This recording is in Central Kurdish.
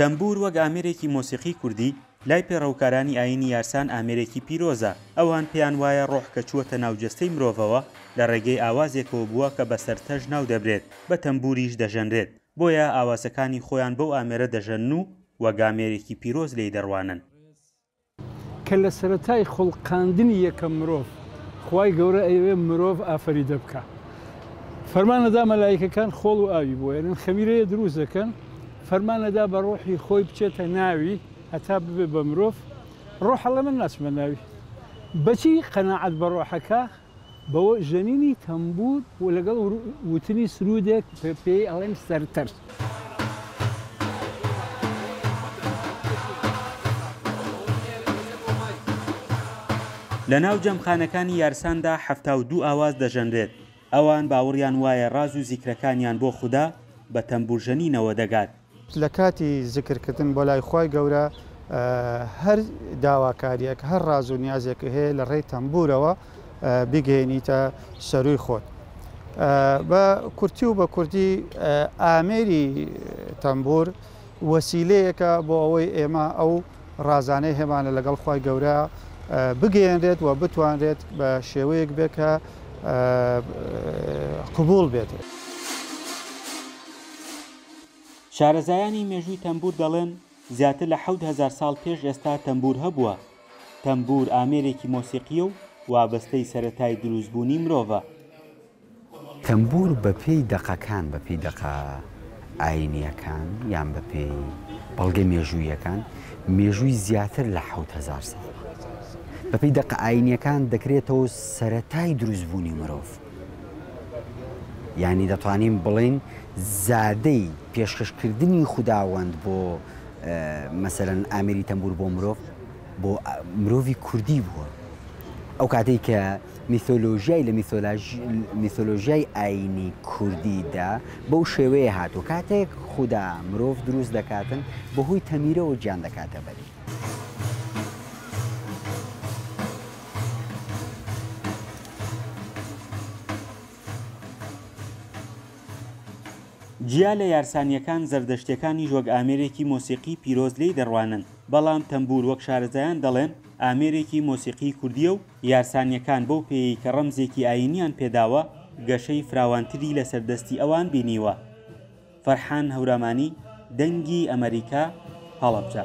تەمبوور وەک ئامێرێکی مۆسیقی کوردی، لای پێڕەوکارانی ئایینی یارسان ئامێرێکی پیرۆزە، ئەوان پێیان وایە ڕۆح کە چووەتە ناو جەستەی مرۆڤەوە، لە ڕێگەی ئاوازێکەوە بووە کە بە سەرتەژ ناو دەبرێت، بە تەمبووریش دەژەنرێت، بۆیە ئاوازەکانی خۆیان بەو ئامێرە دەژەنن و وەک ئامێرێکی پیرۆز لێی دەڕوانن. کە لە سەرەتای خوڵقاندنی یەکەم مرۆڤ خوای گەورە ئەیەوێ مرۆڤ ئافەریدە بکا فەرمانەدا مەلایکەکان خۆڵ و ئاوی بۆ ئێنن خەمیرەیە دروست دەکەن فەرمانەدا بە ڕۆحی خۆی بچێتە ناوی هەتا ببێ بە مرۆڤ ڕۆحەڵە من ناچمە ناوی بەچی قەناعەت بە ڕۆحەکە بە ژەنینی تەمبوور و لەگەڵ وتنی سروودێک پێی ئەڵێن سەرتەرت. لە ناو جەمخانەکانی یارساندا حەفتا و دوو ئاواز دەژەنرێت، ئەوان باوەڕیان وایە ڕاز و زیکرەکانیان بۆ خودا بە تەمبوورژەنینەوە دەگات. لە کاتی زیکر کردن بۆ لای خوای گەورە هەر داواکاریەک هەر ڕاز و نیازێکە هەیە لە ڕێی تەمبورەوە بیگەێنیتە سەرووی خۆت بە کورتی و بە کوردی ئامێری تەمبور وەسیلەیەکە بۆ ئەوەی ئێمە ئەو ڕازانەی هێمانە لەگەڵ خی گەورە بگەێنرێت و بتوانرێت بە شێوەیەک بێت کە قوبول بێت. شارەزایانی مێژووی تەمبوور دەڵێن زیاتر لە حەوت هەزار ساڵ پێش ئێستا تەمبوور هەبووە. تەمبوور ئامێرێکی مۆسیقییە و وابەستەی سەرەتای دروستبوونی مرۆڤە. تەمبوور بەپێی دەقەکان، بەپێی دەقە ئایینییەکان یان بەپێی بەڵگە مێژووییەکان، مێژووی زیاتر لە حەوت هەزار ساڵە. بەپێی دەقە ئایینییەکان دەکرێتەوە سەرەتای دروستبوونی مرۆڤ. یانی دەتوانین بڵێین زادەی پێشکەش کردنی خوداوەند بۆ مەسەرەن ئامری تەمبور بۆ مرۆڤ بۆ مرۆڤی کوردی بووە ئەو کاتێک کە میثۆلۆژیای لە میثۆلۆژیای ئاینی کوردیدا بەو شێوەیە هاتو کاتێک خوددا مرۆڤ دروست دەکاتن بەهۆی تەمیرەوە گیان دەکاتە بەری. جیا لە یارسانییەکان، زەردەشتییەکانیش وەک ئامێرێکی مۆسیقیی پیرۆز لێی دەڕوانن، بەڵام تەمبوور وەک شارەزایان دەڵێن، ئامێرێکی مۆسیقیی کوردییە و یارسانییەکان بەو پێیەی کە ڕەمزێکی ئایینییان پێ داوە، گەشەی فراوانتری لەسەر دەستی ئەوان بینیوە. فەرحان هەورامانی، دەنگی ئەمەریکا، هەڵەبجە.